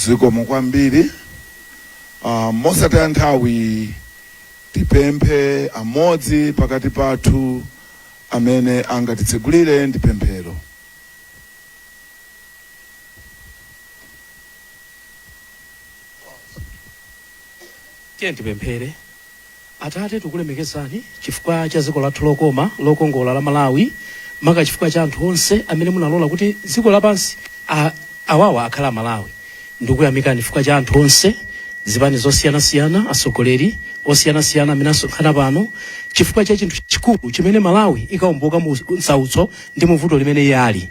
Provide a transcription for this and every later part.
zikomo kwambiri uh, mosataya nthawi tipemphe amodzi pakati pathu amene angatitsegulire ndi pemphero tiye tipemphere Atate, tikulemekezani chifukwa cha dziko lathu lokoma, lokongola la Malawi, maka chifukwa cha anthu onse amene munalola kuti dziko lapansi a, awawa akhala a Malawi. Ndikuyamikani chifukwa cha anthu onse, zipani zosiyanasiyana, atsogoleri osiyanasiyana amene asonkhana pano, chifukwa cha chinthu chikulu chimene Malawi ikawomboka mu msautso ndi mu vuto limene iye ali.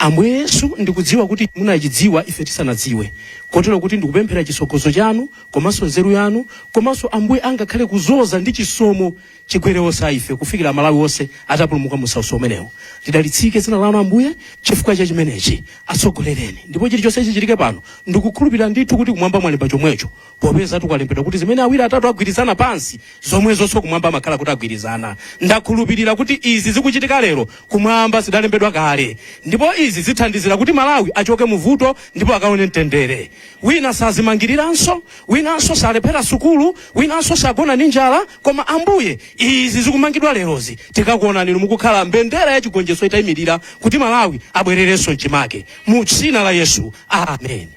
Ambuye Yesu, ndikudziwa kuti munachidziwa ife tisanadziwe, kotero kuti ndikupemphera chitsogozo chanu komanso nzeru yanu komanso ambuye angakhale kuzoza ndi chisomo chigwere onse a ife kufikira amalawi onse atapulumuka mu msautso umenewu lidalitsike dzina lanu ambuye chifukwa cha chimenechi atsogolereni ndipo chilichonse chichitike pano ndikukhulupirira ndithu kuti kumwamba mwalemba chomwecho popeza ndi kwalembedwa kuti zimene awiri atatu agwirizana pansi zomwezonso kumwamba amakhala kuti agwirizana ndakhulupirira kuti izi zikuchitika lero kumwamba zidalembedwa kale ndipo izi zithandizira kuti malawi achoke muvuto ndipo akaone mtendere wina sazimangiriranso winanso salephera sukulu winanso sagona ndi njala koma ambuye izi zikumangidwa lerozi tikakuonani inu mukukhala mbendera ya chigonjetso itayimirira kuti malawi abwererenso mchimake mu dzina la yesu amen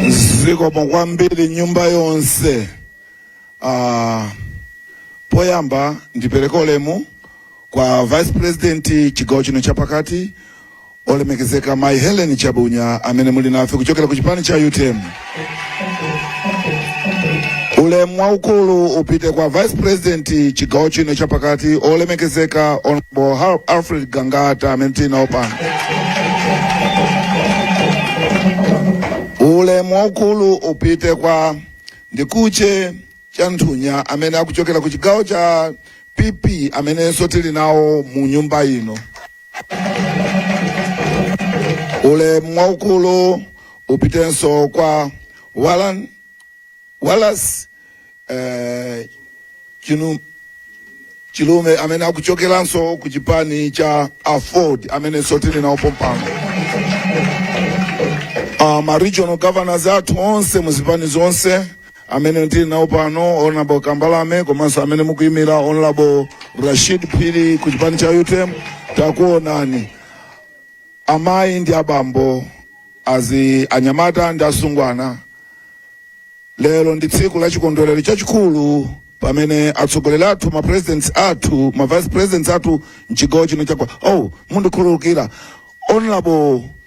zikomo kwambiri nyumba yonse uh, poyamba ndipereke ulemu kwa vice president chigawo chino chapakati Olemekezeka Mai Hellen Chabunya amene muli nafe kuchokera ku chipani cha utm. Ulemu waukulu upite kwa Vice President chigawo chino chapakati olemekezeka Honorable Har- Alfred Gangata amene tili nawo pano. Ulemu waukulu upite kwa Ndikuche Chanthunya amene akuchokera ku chigawo cha PP amenenso tili nawo mu nyumba ino. ulemu waukulu upitenso kwa Walan Wallace eh, Chinu Chilume amene akuchokeranso ku chipani cha aford amenenso tili nawo pompano uh, ma regional governors athu onse mu zipani zonse amene tili nawo pano honorable kambalame komanso amene mukuyimira honorable rashid phiri ku chipani cha utm takuonani amayi ndi abambo anyamata ndi asungwana lero ndi tsiku la chikondwerero chachikulu pamene atsogoleri athu ma presidents athu ma vice presidents athu mchigawo chino chakwa oh mundikhululukira honorable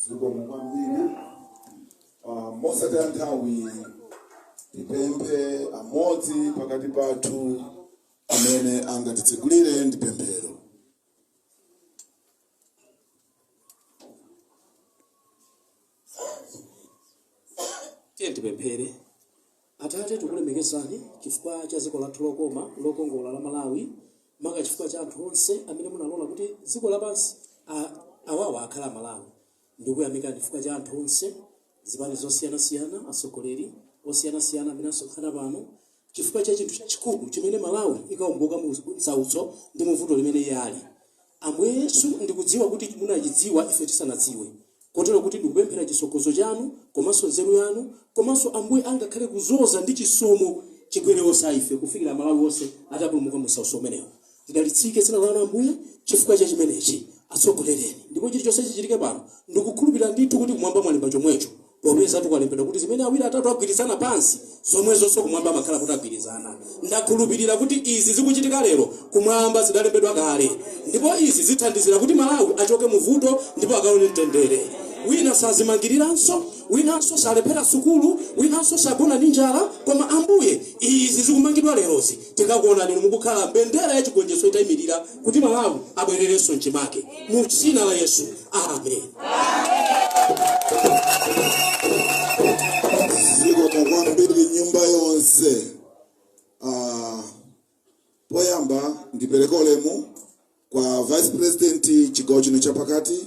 zikomo kwambiri Ah, mosataya nthawi tipemphe amodzi pakati pathu amene angatitsegulire ndi pemphero tiyeni tipemphere atate tikulemekezani chifukwa cha dziko lathu lokoma lokongola la malawi maka chifukwa cha anthu onse amene munalola kuti dziko lapansi a- awawa akhale amalawi ndikuyamikani chifukwa cha anthu onse zipani zosiyanasiyana atsogoleri osiyanasiyana amene asonkhana pano chifukwa cha chinthu chachikulu chimene Malawi ikawomboka mu nsautso ndi mu vuto limene iye ali. Ambuye Yesu, ndikudziwa kuti munachidziwa ife tisanadziwe, kotero kuti ndikupemphera chitsogozo chanu komanso nzeru yanu komanso Ambuye angakhale kuzoza ndi chisomo chigwere onse a ife kufikira Amalawi onse atapulumuka mu nsautso umenewo. Lidalitsike dzina lanu Ambuye chifukwa cha chimenechi. Atsogolereni ndipo chilichonse chichitike pano ndikukhulupirira ndithu kuti kumwamba mwalemba chomwecho. Popezatu kwalembedwa kuti zimene awiri atatu agwirizana pansi, zomwezonso kumwamba amakhala kuti agwirizana. Ndakhulupirira kuti izi zikuchitika lero kumwamba zidalembedwa kale. Ndipo izi zithandizira kuti Malawi achoke mu vuto ndipo akawone mtendere. Wina sazimangiriranso, winanso salephera sukulu, winanso sagona ndi njala. Koma Ambuye izi zikumangidwa lerozi tikakuonani Inu mukukhala mbendera ya chigonjetso itaimirira. kuti malawi abwererenso mchimake mu dzina la yesu amen zikomo kwambiri nyumba yonse Ah, poyamba ndipereke ulemu kwa vice president chigawo chino chapakati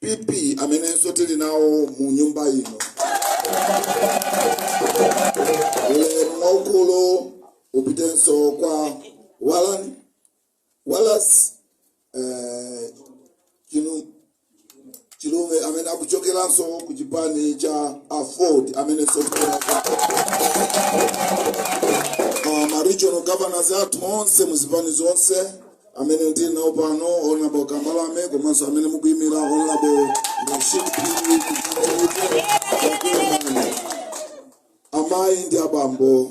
PP amenenso tili nawo mu nyumba ino. Ulemu waukulu upitenso kwa Walan Wallace eh, Chinu- Chilume amene akuchokeranso ku chipani cha Aford amenenso tili nawo. Uh, ma regional governors athu onse mu zipani zonse amene tili nawo pano honorable kambalame komanso amene mukuyimira honorable rashid amayi ndi abambo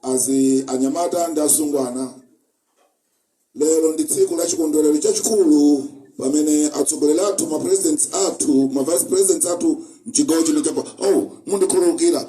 azi anyamata ndi asungwana lero ndi tsiku la chikondwerero chachikulu pamene atsogoleri athu ma presidents athu ma vice presidents athu mchigawo chino chapa oh mundikhululukira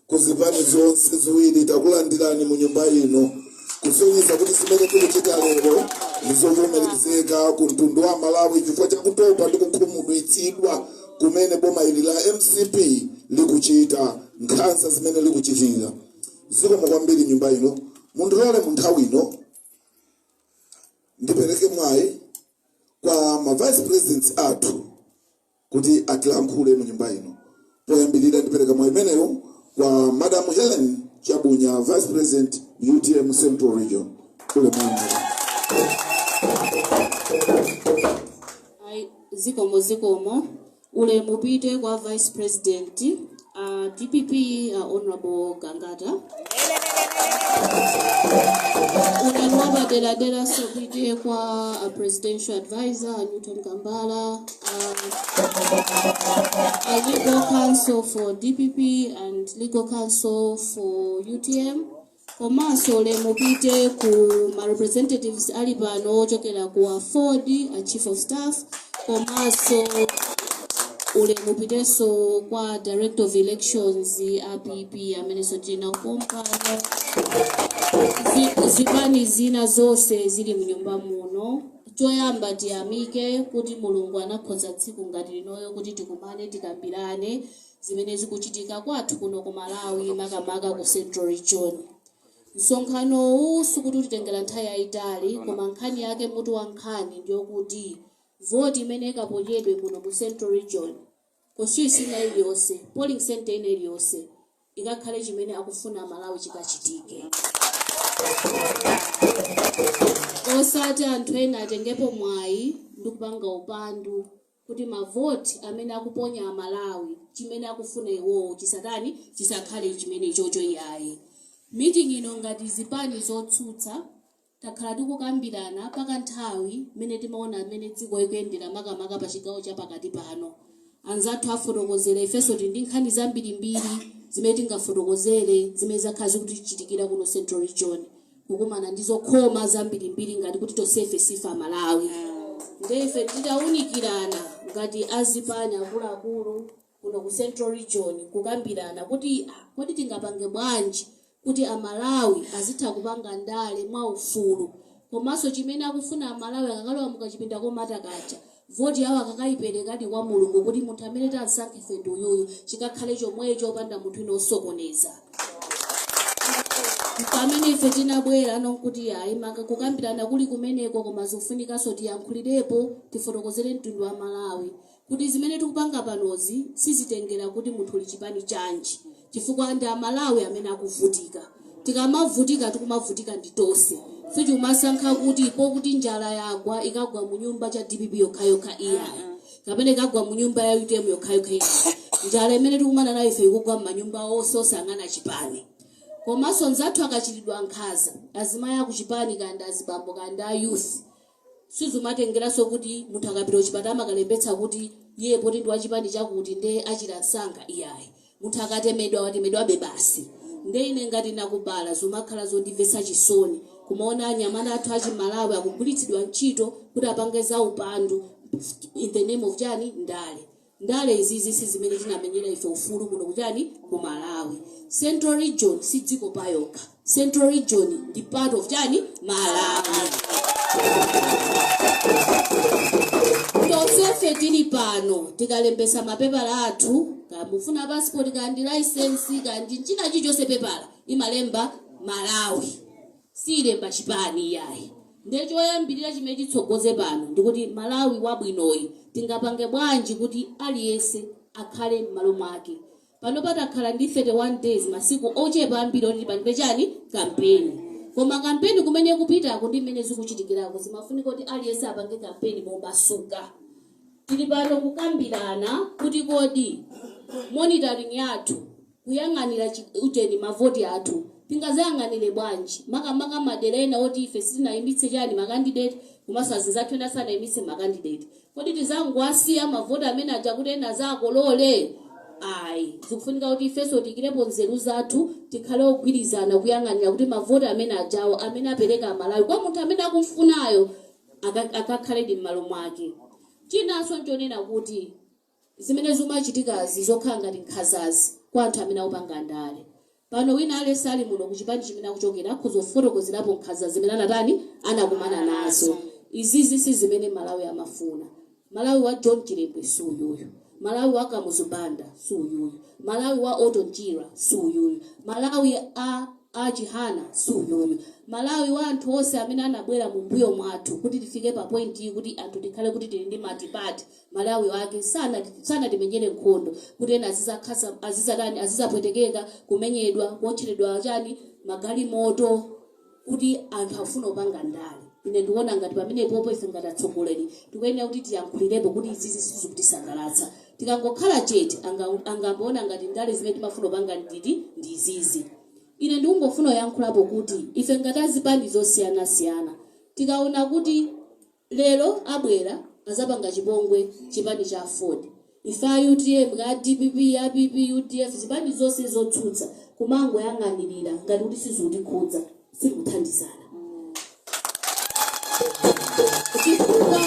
ku zipani zonse ziwiri takulandirani mu nyumba ino kusonyeza kuti zimene zikuchitika lero ndizovomerezeka ku mtundu wa malawi chifukwa chakutopa ndi kukhumudwitsidwa kumene boma ili la mcp likuchita nkhanza zimene likuchitira zikomo kwambiri nyumba ino mundilole mu nthawi ino ndipereke mwayi kwa ma vice presidents athu kuti atilankhule mu nyumba ino. Poyambirira ndipereka mwayi umenewo kwa Madam Hellen Chabunya, Vice President, utm Central Region. Ulemani madam. Ai, zikomo zikomo ulemu upite kwa vice president A dpp a Honourable Gangata. Ulemu wapaderadera sopite kwa a presidential advisor a Newton Kambala, a, a legal counsel for DPP and legal counsel for UTM. Komanso ulemu upite ku ma representatives ali pano ochokera ku aford a chief of staff komanso ulemu upitenso kwa director of elections a pp amenenso tili nawo pompano Zi- zipani zina zonse zili mnyumba muno choyamba tiyamike kuti mulungu anakonza tsiku ngati linoyo kuti tikumane tikambirane zimene zikuchitika kwathu kuno ku Malawi makamaka ku Central Region. Msonkhanowu sikuti utitengera nthawi yayitali koma nkhani yake mutu wa nkhani ndiyokuti voti imene ikaponyedwe kuno mu Central Region constituency ina iliyonse polling center ina iliyonse ikakhale chimene akufuna Amalawi chikachitike osati anthu ena atengepo mwayi ndi kupanga upandu kuti ma vote amene akuponya a Malawi chimene akufuna iwowo chisatani chisakhale chimenechocho iyayi. Meeting ino ngati zipani zotsutsa takhala tikukambirana pa ka nthawi mmene timaona mmene dziko likuyendera makamaka pa chigawo cha pakati pano. Anzathu afotokozera ifenso tili ndi nkhani zambirimbiri zimene tingafotokozere zimene zakhala zikutichitikira kuno central region. kukumana ndi zokhoma zambirimbiri ngati kuti tonsefe sife amalawi nde ife titawunikirana ngati azipani akuluakulu kuno ku central region kukambirana kuti ah, kodi tingapange bwanji kuti amalawi azitha kupanga ndale mwaufulu komanso chimene akufuna amalawi akakalowa mukachipinda komata kaja Voti yawo akakaiperekadi kwa Mulungu kuti munthu amene tansankha ife ndi uyuyu, chikakhale chomwecho opanda munthu wina osokoneza. Mpamene ife tinabwera pano nkuti yayi maka kukambirana kuli kumeneko koma zikufunikanso tiyankhulirepo tifotokozere mtundu wa Malawi kuti zimene tikupanga panozi sizitengera kuti munthu uli chipani chanji. chifukwa ndi amalawi amene akuvutika tikamavutika tikumavutika ndi tose sichumasankha kuti pokuti njala yagwa ikagwa mu nyumba cha dpp yokhayokha iyayi kapena ikagwa mu nyumba ya utm yokhayokha iyayi njala imene tikumana nayo ife ikugwa m'manyumba onse osayang'ana chipani komanso nzathu akachitidwa nkhanza azimayi akuchipani kandi azibambo kandi a youth Sizumatengeranso kuti munthu akapita kuchipatala amakalembetsa kuti iyeyo poti ndi wachipani chakuti nde achira msanga iyayi. Munthu akatemedwa watemedwabe basi. Nde ine ngati nakubala zumakhala zondimvetsa chisoni kumaona anyamata athu achi Malawi akugwiritsidwa ntchito kuti apange zaupandu in the name of chani? Ndale. ndale izizi sizimene tinamenyera ife ufulu kuno kuchani ku malawi central region si dziko payokha central region ndi part of chani malawi tonsefe tili pano tikalembesa mapepala athu kaya mufuna passport kandi license kandi china chilichonse pepala imalemba malawi siilemba chipani iyayi nde choyambirira chimene chitsogoze pano ndikuti Malawi wabwinoyi tingapange bwanji kuti aliyese akhale mmalo mwake. panopa takhala ndi 31 days masiku ochepa ambiri oti tipange chani? kampeni. koma kampeni kumene ikupitako ndi mmene zikuchitikirako zimafunika kuti aliyese apange kampeni momasuka. tili pano kukambirana kuti kodi monitoring yathu kuyang'anira chi, ujeni, mavoti athu. Tingazayang'anire bwanji? Makamaka madera ena oti ife sitinaimitse chani, ma candidate, komanso azinzathu ena sanaimitse ma candidate. Kodi tizangowasiya mavoti amene aja kuti ena azakolole? Ayi. Zikufunika kuti ifenso tiikirepo nzeru zathu, tikhale ogwirizana kuyang'anira kuti mavoti amene ajawo, amene apereka Amalawi kwa munthu amene akumfunayo, aka, akakhaledi mmalo mwake. Chinanso nchonena kuti. zimene zikumachitikazi zokhala ngati nkhanzazi kwa anthu amene akupanga ndale pano wina aliyense ali muno kuchipani chimene akuchokera akhoza kufotokozerapo nkhanza zimene anatani anakumana nazo izizi sizimene Malawi amafuna Malawi wa John Chilembwe si uyuyu Malawi wa Kamuzu Banda si uyuyu Malawi wa Orton Chirwa si uyuyu Malawi a a Chihana si uyuyu Malawi wa anthu onse amene anabwera mumbuyo mwathu kuti tifike pa point iyi kuti anthu tikhale kuti tili ndi multiparty Malawi wake sanati sanatimenyere nkhondo kuti ena azizakhasa azizatani azizapwetekeka kumenyedwa kuotcheredwa chani magalimoto kuti anthu akufuna kupanga ndale ine ndikuona ngati pamenepopo ife ngati atsogoleri tikuyenera kuti tiyankhulirepo kuti izizi sizikutisangalatsa tikangokhala chete anga angamaone ngati ndale zimene timafuna kupanga ndi ndi izizi ine ndikungofuna kuyankhulapo kuti ife ngati azipani zosiyanasiyana tikaona kuti Lero abwera azapanga chipongwe chipani cha aford ife a utm kaya a dpp a pp udf zipani zonse zotsutsa kumangoyang'anilira ngati kuti sizikutikhudza sitikuthandizana chifukwa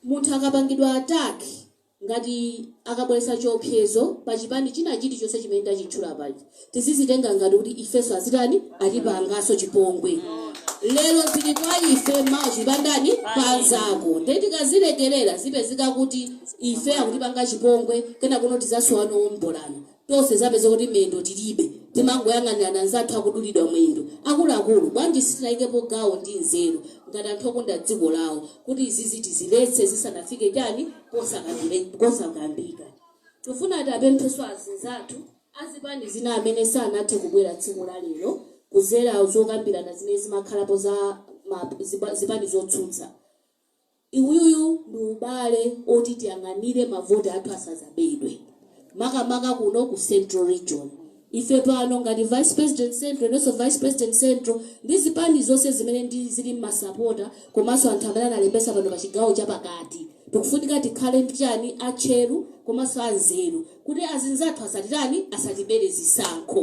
munthu akapangidwa attack ngati akabweretsa chiopsezo pa chipani china chilichonse chimene tachitchula paja, tizizitenga ngati kuti ifenso azitani, atipanganso chipongwe. Lero zili kwa ife, mawa zili pa ndani, pa anzako. Ndiye tikazilekerera zipezeka kuti ife akutipanga chipongwe, kenakono tizasowa noombolana. Tonse tizapezeka kuti miyendo tilibe, timangoyang'anirana anzathu akudulidwa mwendo. Akuluakulu, bwanji sitinayikepo gawo ndi nzeru ngati anthu okonda dziko lawo kuti izizi tiziletse zisanafike chani posakambika. Tifuna tapemphenso azinzathu azipani zina amene sanathe kubwera tsiku la lero kuzera zokambirana zimene zimakhalapo za ma zipani zotsutsa. Uwuwu ndi ubale oti tiyang'anire mavoti athu asazabedwe makamaka kuno ku central region. Ife pano ngati vice president central inenso vice president central ndi zipani zonse zimene ndi zili mmasapota komanso anthu amene analembetsa pano pa chigawo cha pakati tikufunika tikhale ndi chani atcheru komanso anzeru kuti azinzathu asatitani asatibere zisankho.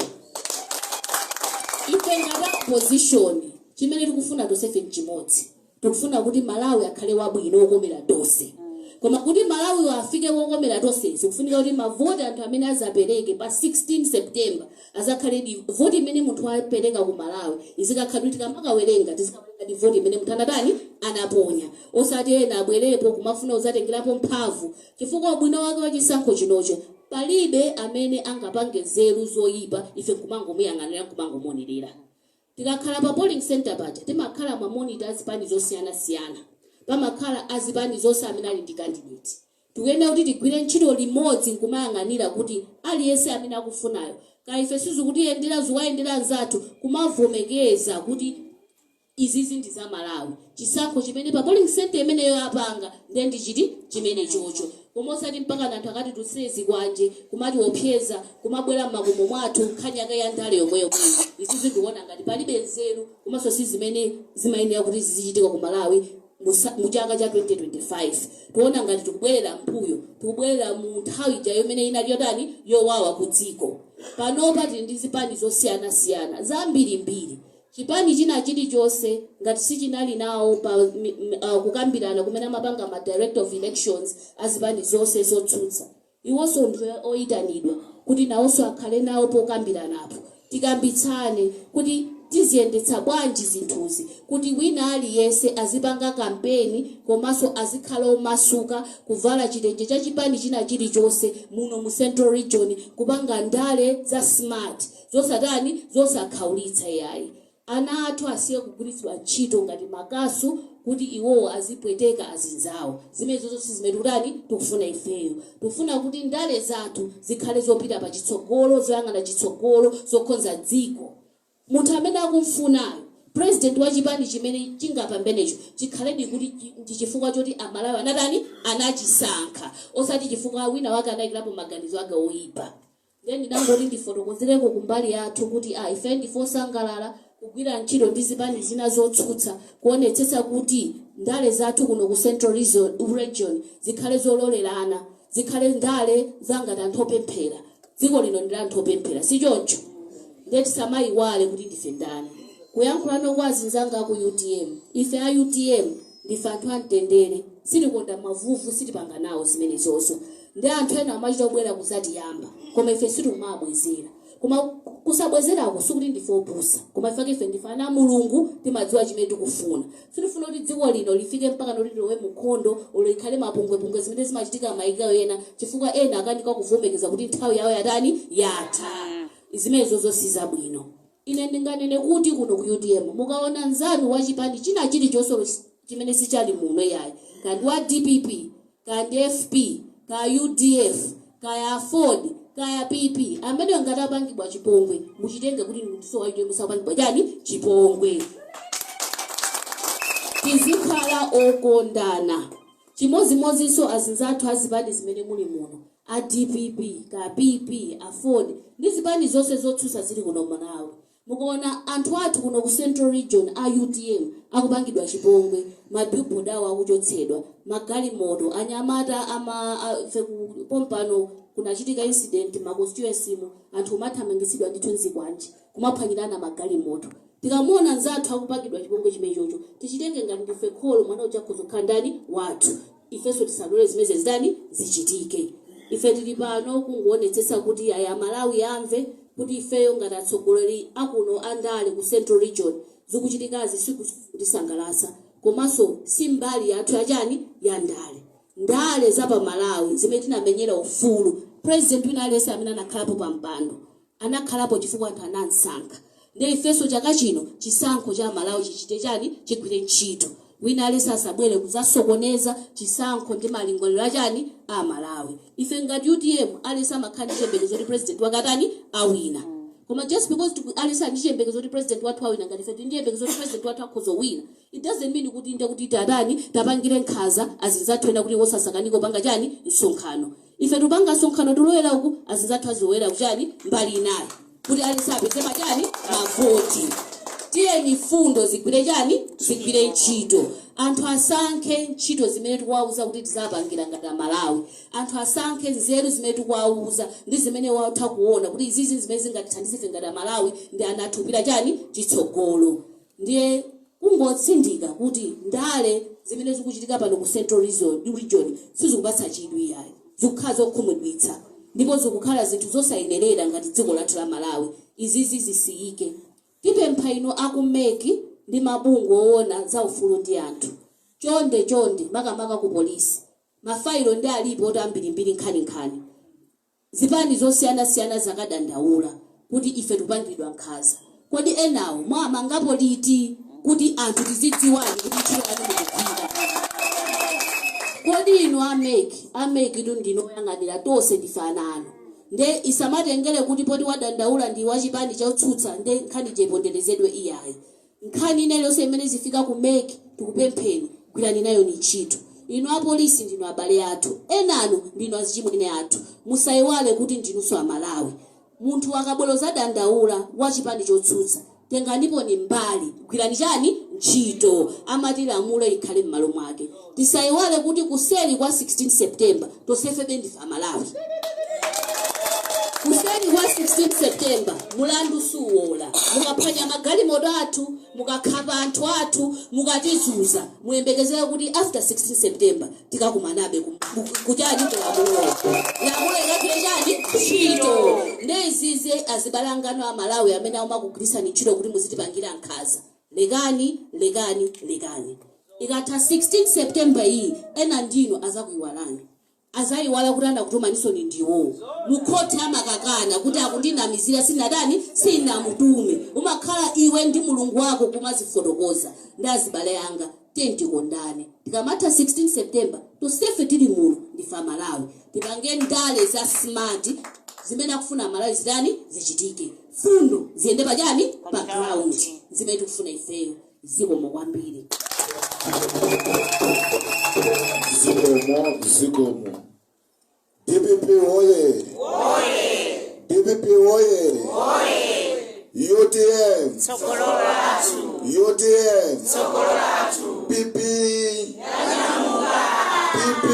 Ife ngati a opposition chimene tikufuna tonsefe nchimodzi. tikufuna kuti malawi akhale wabwino wokomera tonse koma kuti malawi afike wokomera tonse zikufunika kuti mavoti anthu amene azapereke pa 16 september azakhale di voti imene munthu wapereka ku malawi izikakhala kuti tikamakawerenga tizikawerenga di voti imene munthu anatani anaponya osati ena abwerepo kumafuna kuzatengerapo mphamvu chifukwa ubwino wake wa chisankho chinocho palibe amene angapange nzeru zoyipa ife kumangomuyang'anira kumangomuonerera Tikakhala pa polling centre paja timakhala ma monitor a zipani zosiyana siyana. Pamakhala a zipani zonse amene ali ndi candidate. Tikuyenera kuti tigwire ntchito limodzi nkumayang'anira kuti aliyense amene akufunayo kaya ife sizikutiyendera zikuwayendera anzathu kumavomekeza kuti izizi ndi za Malawi. chisankho chimene pa polling centre imeneyo apanga nde ndi chiti chimenechocho koma osati mpakana anthu akatitutsire zikwanje kumatiopseza kumabwera mmakomo mwathu nkhani yake ya ndale yomweyomweyo izizi ndikuona ngati palibe nzeru komanso si zimene zimayenera kuti zizichitika ku malawi musa- mu chaka cha 2025 tikuona ngati tikubwerera mbuyo tikubwerera mu nthawi ija imene inali yotani yowawa ku dziko panopa tili ndi zipani zosiyanasiyana zambirimbiri chipani china chilichonse ngati sichinali nawo pa kukambirana kumene amapanga ma director of elections a zipani zonse zotsutsa. Iwonso ndi oyitanidwa kuti nawonso akhale nawo pokambiranapo. Tikambitsane kuti tiziyendetsa bwanji zinthuzi kuti wina aliyense azipanga campaign komanso azikhala omasuka kuvala chitenje cha chipani china chilichonse muno mu central region kupanga ndale za smart. zosatani zosakhaulitsa yayi ana athu asiye kugwiritsidwa ntchito ngati makasu kuti iwowo azipweteka azinzawo zimenezozo sizimene tikutani tikufuna ifeyo tikufuna kuti ndale zathu zikhale zopita pa chitsogolo zoyang'ana chitsogolo zokhonza dziko munthu amene akumfunayo president wa chipani chimene chingapambenecho chikhaledi kuti chi- ndi chifukwa choti amalawi anatani anachisankha osati chifukwa wina wake anayikirapo maganizo ake oyipa Ndiye ndinangoti ndifotokozereko kumbali yathu kuti a ife ndife osangalala kugwira ntchito ndi zipani zina zotsutsa kuonetsetsa kuti ndale zathu kuno ku Central Region zikhale zololerana, zikhale ndale za ngati anthu opemphera. Dziko lino ndi la anthu opemphera, si choncho? Ndiye tisamaiwale kuti ndife ndani. Kuyankhulano kwa azinzanga a ku utm, ife a utm Ndife anthu amtendere, sitikonda mavuvu, sitipanga nawo zimenezozo. Nde anthu ena kumachita kubwera kuzatiyamba, koma ife sitikumawabwezera. Koma kusabwezerako sikuti ndife opusa, koma chifukwa chake ife ndife ana a Mulungu, timadziwa chimene tikufuna. Sitifuna kuti dziko lino lifike mpakana kuti lilowe mu nkhondo olo ikhale mapungwepungwe zimene zimachitika maiko ena chifukwa ena akanika kuvomekeza kuti nthawi yawo yatani? Yatha. Zimenezozo sizabwino. Ine ndinganene kuti kuno ku utm mukaona nzanu wa chipani china chilichonse olo chimene sichali muno iyayi kaya ndi wa dpp kaya ndi FP kaya udf kaya aford kaya PP ameneyo ngati apangidwa chipongwe muchitenge kuti ndinso wa utm akupangidwa chani chipongwe tizikhala okondana chimodzimodzinso azinzathu azipani zimene muli muno a dpp kaya PP, aford ndi zipani zonse zotsutsa zili kuno mmalawi mukaona anthu athu kuno ku central region a utm akupangidwa chipongwe ma billboard awo akuchotsedwa ma galimoto anyamata pompano kunachitika incident mma constituency mu anthu kumathamangitsidwa ndithu nzikwanje kumaphwanyirana ma galimoto tikamuona nzathu akupangidwa chipongwe chimechocho tichitenge ngati ndife kholo mwana uja akhoza kukhala ndani wathu ifenso tisalore zimenezi zitani zichitike ife tili pano kungoonetsetsa kuti yayi amalawi amve kuti ifeyo ngati atsogoleri akuno a ndale ku central region zikuchitikazi sikutisangalatsa komanso si mbali yathu ya chani ya ndale ndale za pa malawi zimene tinamenyera ufulu president wina aliyense amene anakhalapo pa mpando anakhalapo chifukwa anthu anamsankha nde ifeso chaka chino chisankho cha amalawi chichite chani chigwire ntchito wina alese asabwere kuzasokoneza chisankho ndi malingaliro achani a amalawi ife ngati utm alese amakhala ndi chiyembekezo kuti president wake atani awina koma just because tiku alese ali ndi chiyembekezo kuti president wathu awina ngati ife tili ndi chiyembekezo kuti president wathu akhoza kuwina it doesn't mean kuti nde kuti tatani tapangire nkhaza azinzathu ena kuti iwo azikanika kupanga chani msonkhano Ife tikupanga msonkhano tilowera uku, azinzathu azilowera ku chani, mbali inayo, kuti aliyense apeze ma chani, mavoti. Tiyeni mfundo zigwire chani, zigwire ntchito. Anthu asankhe ntchito zimene tikuwauza kuti tizawapangira ngati a Malawi. Anthu asankhe nzeru zimene tikuwauza ndi zimene iwo akutha kuona kuti izizi ndi zimene zingatithandize ife ngati a Malawi ndi ana athu kupita chani, chitsogolo. Ndiye kungotsindika kuti ndale zimene zikuchitika pano ku central region sizikupatsa chidwi iyayi. Zikukhala zokhumudwitsa ndipo zikukhala zinthu zosayenerera ngati dziko lathu la Malawi. Izizi zisiyike. Tipempha inu a ku mec ndi mabungwe oona za ufulu ndi anthu. Chonde chonde makamaka ku police. Mafayilo nde alipo oti ambirimbiri nkhaninkhani. Zipani zosiyana siyana zakadandaula kuti ife tikupangiridwa nkhaza. Kodi enawo mwawamangapo liti kuti anthu tizidziwadi kuti ntchito yanu mukugwira? Kodi inu a mec, a mec tu ndinu oyang'anira tonse ndife ana anu nde isamatengere kuti poti wadandaula ndi wachipani chotsutsa nde nkhani ija iponderezedwe iyayi. Nkhani ina iliyonse imene izifika ku mec tikupempheni gwirani nayoni ntchito. Inu apolisi ndinu abale athu. Enanu ndinu azichimwene athu. Musaiwale kuti ndinunso Amalawi. Munthu akabwera kuzadandaula, wa chipani chotsutsa. Tenganiponi mbali. Gwirani chani? Ntchito. Amati lamulo ikhale mmalo mwake. Tisaiwale kuti kuseli kwa 16 September tonsefebe ndife amalawi. Kuseli kwa 16 September mulandu suwola. Mukaphwanya magalimoto athu, mukakhapa anthu athu, mukatizuza muyembekezere kuti after 16 September tikakumanabe ku ku chani ku lamulo. Lamulo ikagwire chani ntchito. Nde izizi azibale anganu amalawi amene amakugwirisani ntchito kuti muzitipangira nkhaza. lekani lekani lekani ikatha 16 September iyi ena ndinu azakuiwalani azaiwala kuti anakutumanisoni ndi iwowo mukhoti amakakana kuti akundinamizira sinatani sinamutume umakhala iwe ndi Mulungu wako kumazifotokoza ndi azibale anga Tiyeni tikondane. Tikamatha 16 September tonsefe tili muno ndife Amalawi. Tipange ndale za smart. Zimene akufuna Amalawi zitani? Zichitike. Fundo ziyende pa chani? Pa ground. Zimene tikufuna ifeyo. Zikomo kwambiri. Zikomo, zikomo. DPP woye! DPP woye! UTM! UTM! PP! PP!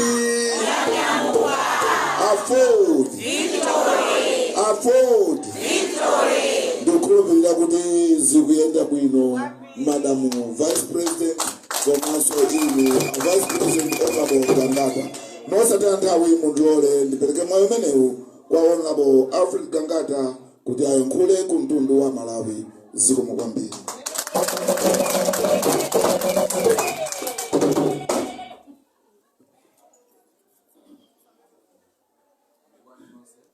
AFORD! AFORD! Ndikukhulupirira kuti zikuyenda bwino. madamu vice president komanso inu a vice president honorable gangata mosataya nthawi mundilole ndipereke mwayi umenewu kwa honorable alfred gangata kuti ayankhule ku mtundu wa malawi zikomo kwambiri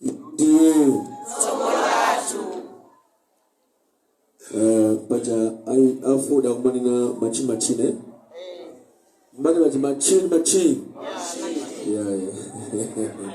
Inde. Eh, paja ai afuda kumanena machi machine mbali paja machine machine yeah, yeah.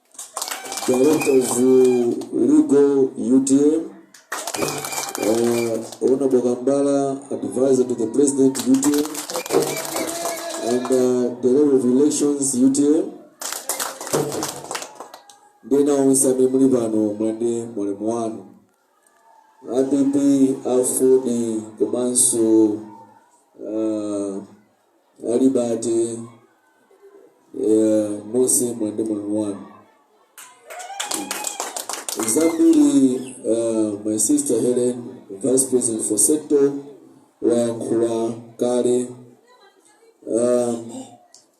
Director of Legal UTM, uh, Ona Bogambala, advisor to the president UTM, and uh, the level of elections UTM. Ndena onse amene muli pano mwende mulemu wanu app afudi komanso uh, Walibate eh, Mose mwandimva wanu. Zambiri, uh, my sister Helen, Vice President for Centre, wayankhula kale. Um,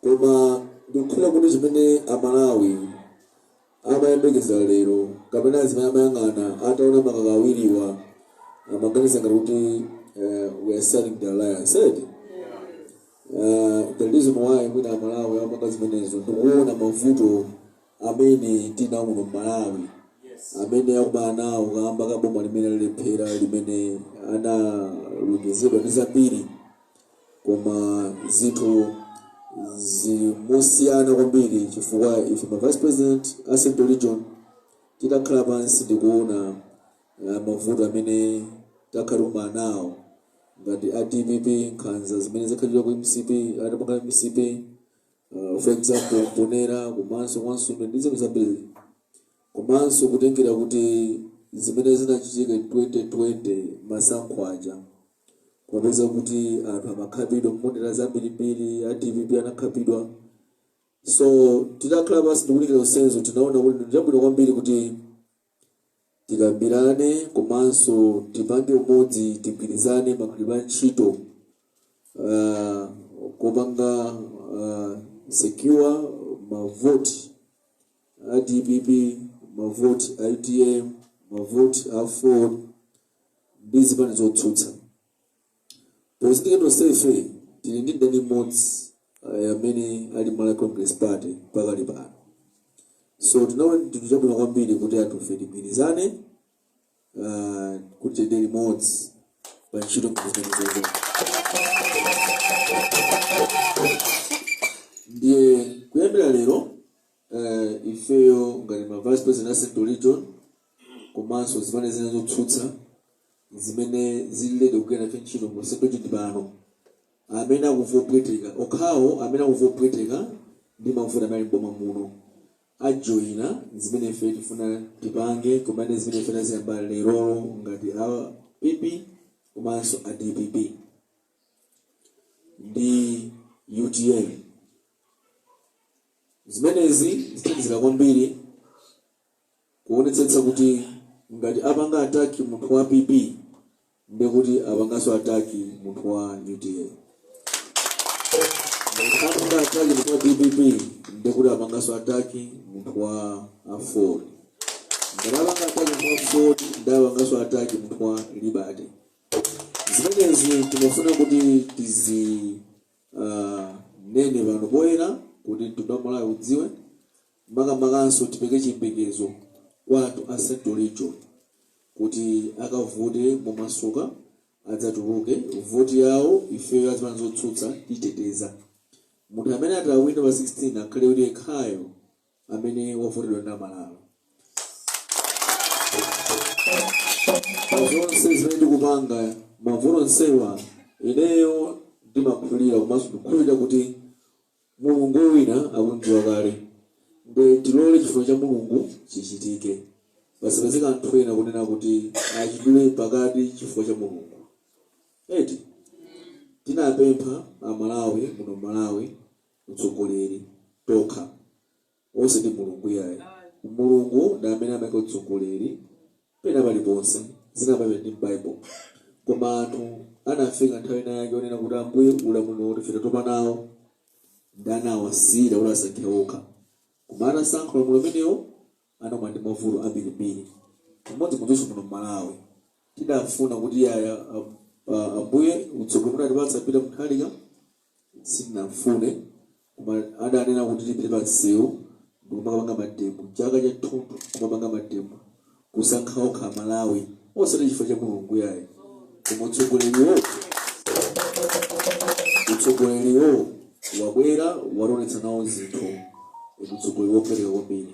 koma ndikukhulupirira kuti zimene amalawi amayembekeza lero kapena zimene amayang'ana ataona makaka awiriwa amaganiza ngati kuti eh, we are sealing the alliance right? Eh, the reason why mwina amalawi amanga zimenezo ndikuona mavuto amene tinawo muno mmalawi amene akumana nawo kamba kaboma limene lalephera limene analonjezedwa ndi zambiri koma zinthu zili mosiyana kwambiri chifukwa ife ma vice president a central region titakhala pansi ndikuona uh, mavuto amene takhala tikukumana nawo ngati a dpp nkhanza zimene zakhala akupanga mcp uh, for example mponera komanso Nsundwe ndi zinthu zambiri komanso kutengera kuti zimene zinachitika 2020 masankho aja kumapeza kuti anthu amakhapidwa mmadera ambirimbiri a dpp anakhapidwa so titakhala pansi ndikunikira zonsezo tinaona kuti ndiyabwino kwambiri kuti tikambirane komanso tipange umodzi tigwirizane magwiridwe a ntchito uh, kopanga uh, secure mavoti a dpp mavoti a utm mavoti aford ndi zipani zotsutsa pozindikira tonsefe tili ndi mdani mmodzi eh, amene ali malawi congress party pakali pano so tinaona chinthu chabwino kwambiri kuti anthufe tigwirizane ah, kuti tiyende limodzi pa ntchito ngati zimenezo ndiye kuyambira lero eh, ifeyo ngati ma vice president a central region komanso zipani zina zotsutsa zimene zili ready kugwira nafe ntchito mu central region pano amene akumva opweteka okhawo amene akumva opweteka ndi mavuto amene ali m'boma muno ajoyina zimene ife tifuna tipange komanso zimene ife taziyamba lerolo ngati a pp komanso a dpp ndi utm zimenezi zithandizira kwambiri kuonetsetsa kuti ngati apanga attack munthu wa PP ndiye kuti apanganso attack munthu wa UTM. Ngati apanga attack munthu wa DPP ndiye kuti apanganso attack munthu wa Aford. Ngati apanga attack munthu wa Aford ndiye apanganso attack munthu wa Liberty. Zimenezi timafuna kuti tizi ah, nene pano poyera kuti mtundu wa Malawi udziwe Makamakanso tipereke chiyembekezo kwa anthu a central region kuti akavote momasuka adzatuluke vote yawo ifeyo azipani zotsutsa titeteza munthu amene ati awine pa 16 akhale kuti ekhayo amene wavotedwa ndi amalawi pa zonse zimene tikupanga mavuto onsewa ineyo ndimakhulira komanso ndikukhulupirira kuti Mulungu wina akum'dziwa kale. Nde tilole chifuniro cha Mulungu chichitike. Pasapezeke anthu ena kunena kuti achidule pakati chifuniro cha Mulungu. Eti? Tinapempha a Malawi muno Malawi utsogoleri tokha. Osati mulungu iyayi mulungu ndi amene amaika utsogoleri pena paliponse zina pape ndi m'bible koma anthu anafika nthawi ina yake onena kuti ambuye ulamuliro uti ife tatopa nawo ndi anawasiyira kuti asankhe okha koma atasankha ulamuliro umenewo anakumana ndi mavuto ambirimbiri chimodzimodzinso muno m'malawi tidafuna kuti yayi ambuye utsogoleri munatipatsa peter mutharika sitinamfune koma adanena kuti tipite pa msewu ndikumakapanga mademo chaka chathunthu kumapanga mademo kusankha okha amalawi osati chifukwa cha mulungu yayi koma utsogoleriwo wabwera wationetsa nawo zikhomo utsogoleri wopweteka kwambiri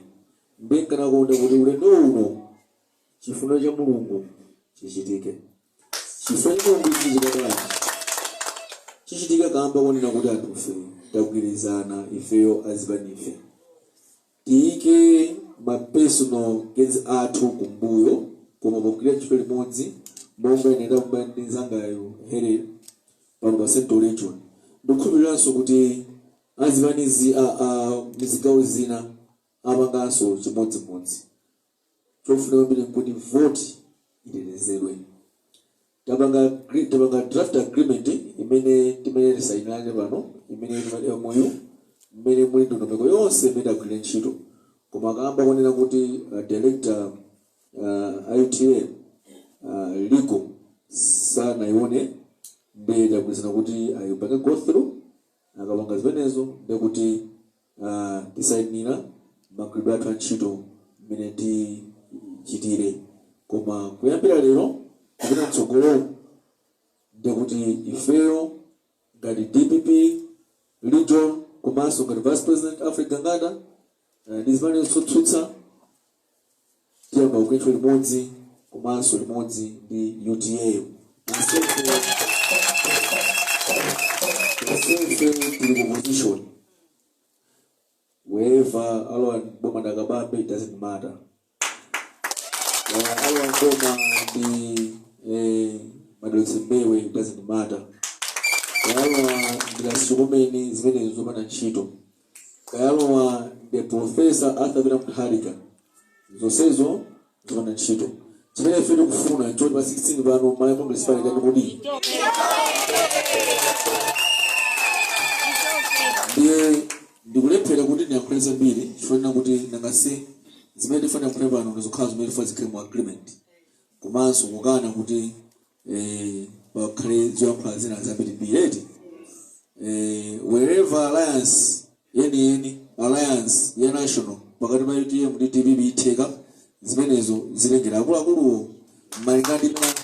nde nkanakonda kuti ulendo uno Chifuniro cha Mulungu chichitike. Chifuniro cha Mulungu chichitika bwanji? Chichitika kaamba konena kuti anthufe tagwirizana ifeyo azipanife tiyike ma personal gains athu kumbuyo, koma pogwira ntchito limodzi monga ine ndakumana ndi nzangayo Helen pano pa Central Region. Ndikukhulupiriranso kuti azipanizi a a mzigawo zina apanganso chimodzimodzi. chofunika kwambiri nkuti voti itetezedwe tapanga agri- tapanga draft agreement imene timene tisainirane pano imene timati mou mmene muli ndondomeko yonse imene tigwire ntchito koma kamba konena kuti uh, director uh, utm uh, legal sanaione ndiye tagwirizana kuti ayipange go through Akapanga zimenezo, ndiye kuti tisainira magwiridwe athu a ntchito mmene tichitire. Koma kuyambira lero kupita m'tsogolomu, ndiye kuti ifeyo ngati dpp region komanso ngati Vice President Alfred Gangata ndi zipani zotsutsa, tiyamba kugwira ntchito limodzi komanso limodzi ndi utm tonsefe tili ku opposition whether alowa boma ndi a kabambe it doesn't matter Eh, alowa boma ndi eh, madalitso mbewe it doesn't matter alowa ndilasukumeni zimenezo zopanda ntchito Kayalowa the Prof. Arthur Peter Mutharika zonsezo zopanda ntchito. Chimene ife tikufuna nchoti pa 16 pano Malawi Congress Party kani kodi ndiye ndikulephera kuti ndiyankhule zambiri chifukwa kuti nanga si zimene tifuna kuyankhula pano ndizokhala zimene tifuna zikhale mu agreement komanso kukana kuti Eh, pakhale zoyankhula zina zambirimbiri eti eh, whatever alliance yeniyeni alliance ya national pakati pa utm ndi dpp itheka zimenezo zitengera akuluakuluwo malinga ndi mmene-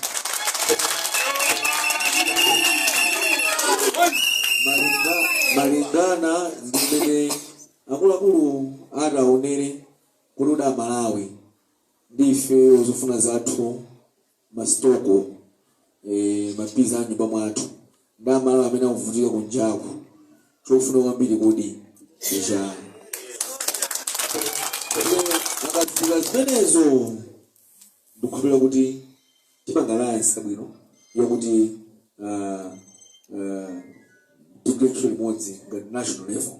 malinga- malingana ndi mmene akuluakulu ataonere kuti kodi amalawi ndife zofuna zathu ma struggle eh, ma peace a nyumba mwathu ndi amalawi amene akuvutika kunjaku chofuna kwambiri kodi ndichani akafika zimenezo ndikukhulupirira kuti tipanga alliance yabwino yakuti ah, ah, tigwire ntchito limodzi ngati national level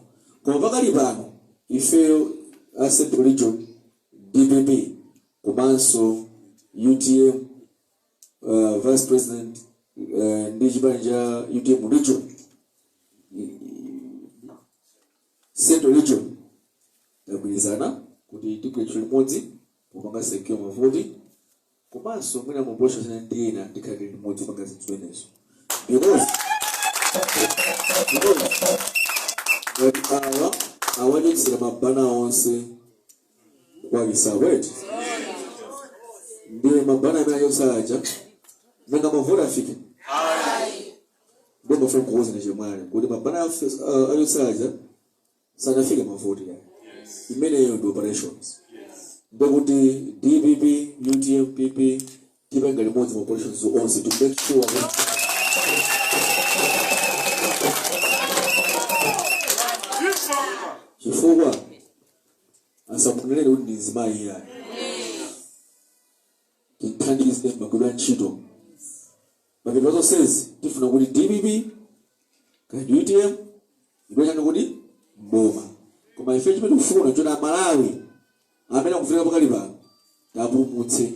koma pakali pano ifeyo a central region Dpp komanso utm uh, vice president uh, ndi chipani cha utm region central region tagwirizana kuti tigwire ntchito limodzi kupanga secure mavoti Komanso mwina ma operations ena ndi ena tikhale limodzi kupanga zinthu zimenezo. Because ngati awa awachotsera ma banner onse kwalisa wet ndiye ma banner amene achotsa aja nanga mavoti afike ndiye ndimafuna kukuwuzani chemwali kuti ma banner achotsa aja sanafike mavoti ya imeneyo ndi operations ndekuti dpp utm pp tipanga limodzi ma operations onse to make sure kuti chifukwa asamuonerere kuti ndi mzimayi iyayi tithandize kagwiridwe ntchito Mapeto a zonsezi tifuna kuti dpp kaya ndi utm ibwezani kuti mboma koma ife chimene tikufuna choti amalawi amene akuvutika pakali pano tiwapulumutse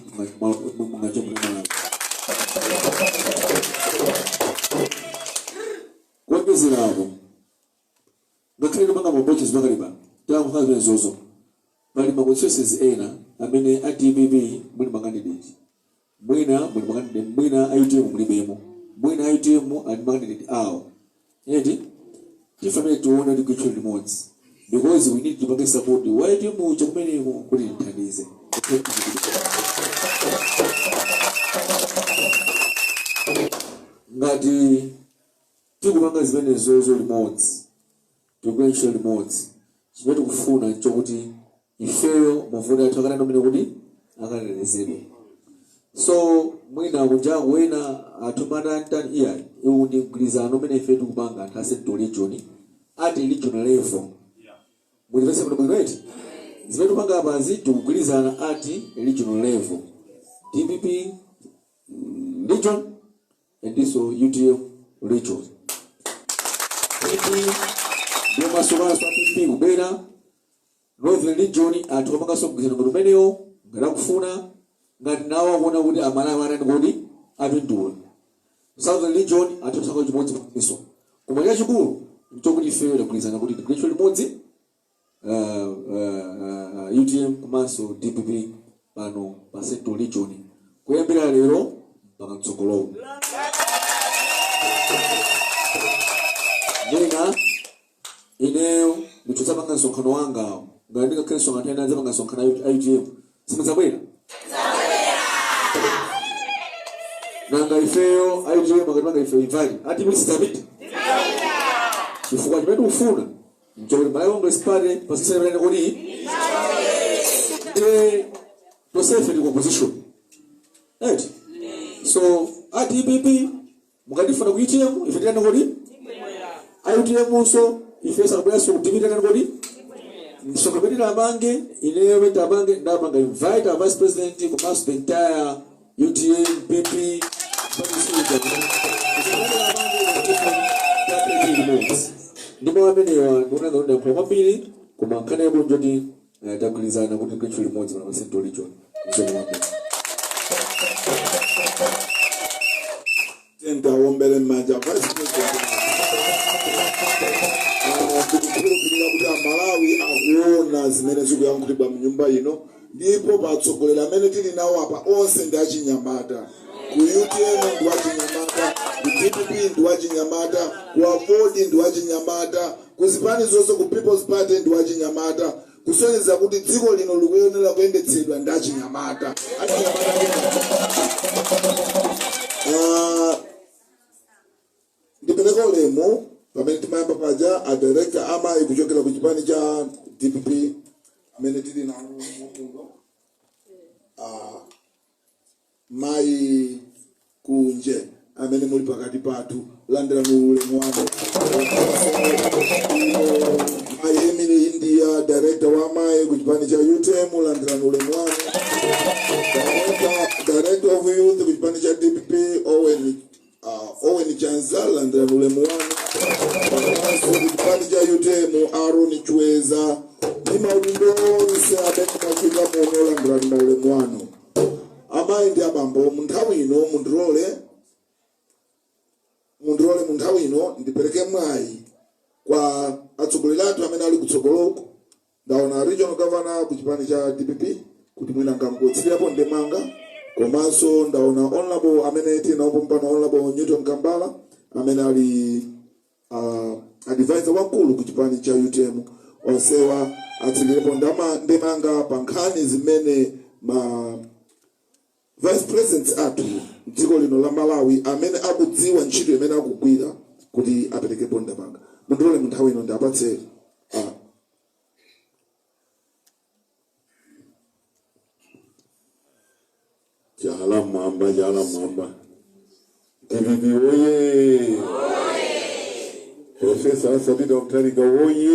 mmanja mwa malawi kuonjezera apo ngakhale tipanga ma operations pakali pano tilankhula zimenezozo pali ma constituencies ena amene a dpp muli makandideti Mwina muli makandidate mwina a utm mulibemo mwina a utm ali ndi makandidate awo eti tifanile tione tigwire ntchito limodzi because we need tipange support wa utm uja kumeneko kuti timthandize ngati tikupanga zimenezozo limodzi tikugwira ntchito limodzi chimene tikufuna chokuti ifeyo mavoti athu akanena kumene kuti akatetezedwe so mwina kunjaku wena atumana antani iyayi iwu ndi mgwirizano umene ife tikupanga anthu a central region at regional level mulimvetse kuti bwino eti zimene tikupanga apazi tikugwirizana at regional level dpp mm, region andinso utm region pp ndi omasukanso a pp kubwera Northern Region atha kupanganso mgwirizano ngati umenewo ngati akufuna, ngati nawo akuona kuti Amalawi atani kodi, apindula. Southern Region atha kusankha chimodzimodzinso. Koma chachikulu n'chokuti ifeyo tagwirizana kuti tigwire ntchito limodzi uh, uh, uh, UTM komanso DPP pano pa Central Region kuyambira lero mpaka mtsogolowo. Ndina Ineyo ndikadzapanga msonkhano wanga ngati ndingakhale nsonkhano ndikadzapanga msonkhano a U- a utm simudzabwera nanga ifeyo a utm akatipanga ife invite a dpp sitidzapita chifukwa chimene tikufuna mchokoti malawi congress party pansi ichite chani kodi nde tosefe ndi opposition right so a dpp mukatifuna ku utm ife tiitaneni kodi ayi utmnso ife sakubweranso ku dpp tiitana kodi msonga pete tamange ineyo pete tamange ndapanga invite our vice president komanso the entire utm pp ndipo amenewa ndikunaza kuti ndayankhula kwambiri koma nkhani yabwino njoti Eh, tagwirizana kuti tigwire ntchito limodzi pano pa central region msomombe tiyeni tiwawombele mmanja vice president Ah, tikukhulupirira kuti amalawi akuona zimene zikuyankhulidwa mnyumba ino ndipo atsogoleri amene tili nawo apa onse ndi achinyamata ku utm ndi wachinyamata ku dpp ndi wachinyamata ku aford ndi wachinyamata Ku zipani zonse ku People's Party ndi wachinyamata kusonyeza kuti dziko lino likuyenera kuyendetsedwa ndi achinyamata. Achinyamata ake ngati. Ah, ndipereke ulemu pamene timayamba paja a director amayi kuchokera ku chipani cha dpp amene tili nawo muno Ah, Mayi Kunje amene muli pakati pathu landira ulemu wanu. Mayi Emily India, director wa mayi ku chipani cha UTM landira ulemu wanu. Director, director of youth ku chipani cha DPP Owen Uh, Owen Chanza landirani ulemu wanu komanso ku chipani cha UTM Aaron Chweza ndi maudindo onse amene mwafika muno landirani maulemu wanu amayi ndi abambo mu nthawi ino mundilole mundilole mu nthawi ino ndipereke mwayi kwa atsogoleri athu amene ali kutsogoloko Ndaona regional governor ku chipani cha dpp kuti mwina angotsirirapo ndemanga komanso ndaona honorable amene tili nawo pompano honorable newton kambala amene ali uh, advisor wamkulu ku chipani cha utm onsewa atsirirepo ndemanga pa nkhani zimene ma Vice President athu mdziko lino la Malawi amene akudziwa ntchito imene akugwira kuti aperekepo ndemanga. Mundilole mu nthawi ino ndiapatse a Chala mwamba, chala mwamba. DPP oye! Profesa Arthur Peter Mutharika oye!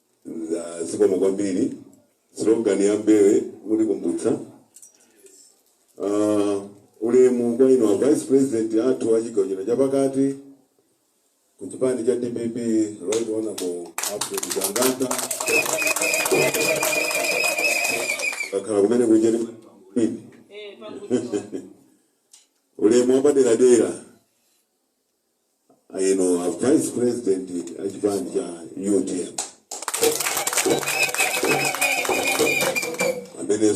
Za zikomo kwambiri. Slogan ya mbewu mutikumbutsa. Uh, ulemu kwa inu a Vice President athu a chigawo chino chapakati ku chipani cha DPP Right Honorable Alfred Gangata kakhala kumene kuja ni mimi ulemu wapaderadera inu a vice president a chipani cha utm amene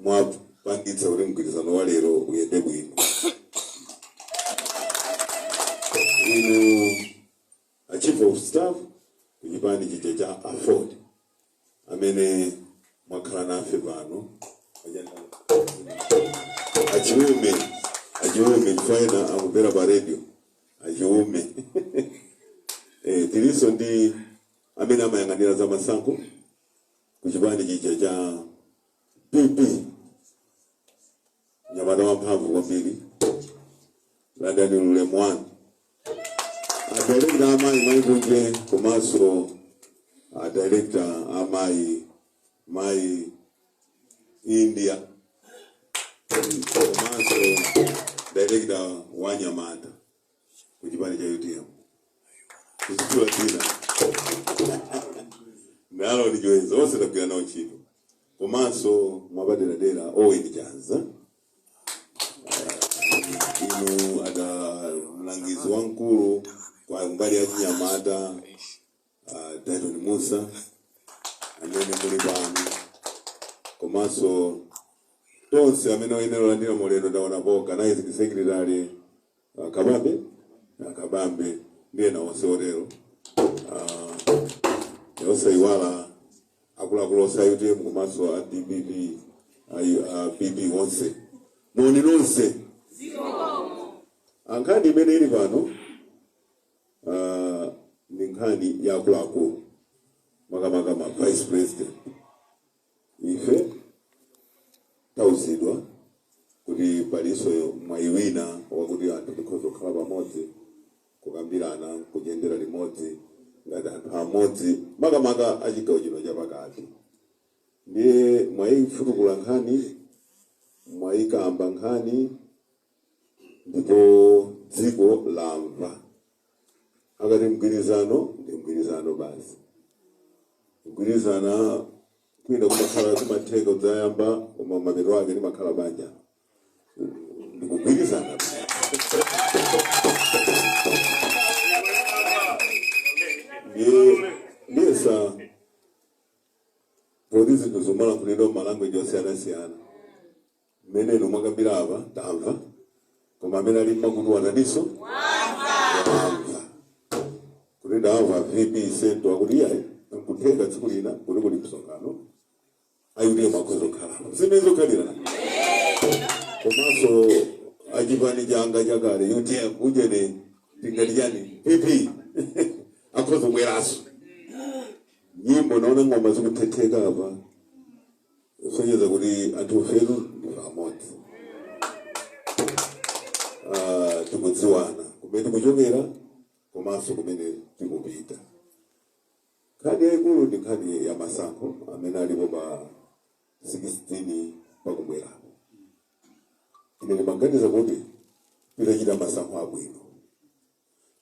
mwapangitsa kuti mgwirizano wa lero uyende bwino inu a chief of staff ku chipani chija cha aford amene mwakhala nafe pano achiume achiume chifukwa akuvera pa radio achiume eh, tilinso ndi amene amayang'anira za masankho ku chipani chija cha pp Mnyamata wamphamvu kwambiri. Landani ulemu wanu. Adirekta amayi mayi kunje komanso adirekta amayi mayi India komanso direkta wa anyamata. ku chipani cha utm kutchula dzina nalo ndi joyeza onse tagwira nawo ntchito komanso mwapaderadera owen chomanika inu a damlangizi wamkulu kwa mbali ya chinyamata uh, Dyton Mussa amene muli pano komanso tonse amene oyenera kulandira ulemu ndaona pa organizing secretary uh, kabambe uh, kabambe ndi ena onse otero uh, osaiwala akuluakulu onse a utm komanso a dpp ayi- a pp onse moni nonse nkhani imene ili pano uh, ndi nkhani ya akuluakulu makamaka ma vice president ife tauzidwa kuti palinso mwayi wina wakuti anthu tikhoza kukhala pamodzi kukambirana kuyendera limodzi ngati anthu amodzi makamaka achigawo chino chapakati ndiye mwayifutukula nkhani mwayikamba nkhani ndipo dziko lamva akati mgwirizano ndi mgwirizano basi kugwirizana kwina kumakhala kumatheka udzayamba koma mapeto ake limakhala banja ndikugwirizana ndiyesa poti zinthu zimalankhulidwa m'malanguage osiyanasiyana Mmene inu mwakambila apa tamva koma amene ali m'makutu ataninso wamva kuti ndamva vp centre akuti iyayi nkutheka tsiku lina kuti kuli msonkhano a utm akhoza kukhalanso zimenezo khalirana komanso achipani changa chakale utm ujene tingati chani pp akhoza kubweranso nyimbo naona ng'oma zikuthetheka apa kusonyeza kuti anthufe tu ndife amodzi Ah, tikudziwana kumene tikuchokera komanso kumene tikupita nkhani yayikulu ndi nkhani ya masankho amene alipo pa 16 pakubwerapo ine ndimaganiza kuti titachita masankho abwino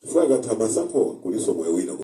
chifukwa akatha masankhowa kulinso moyo wina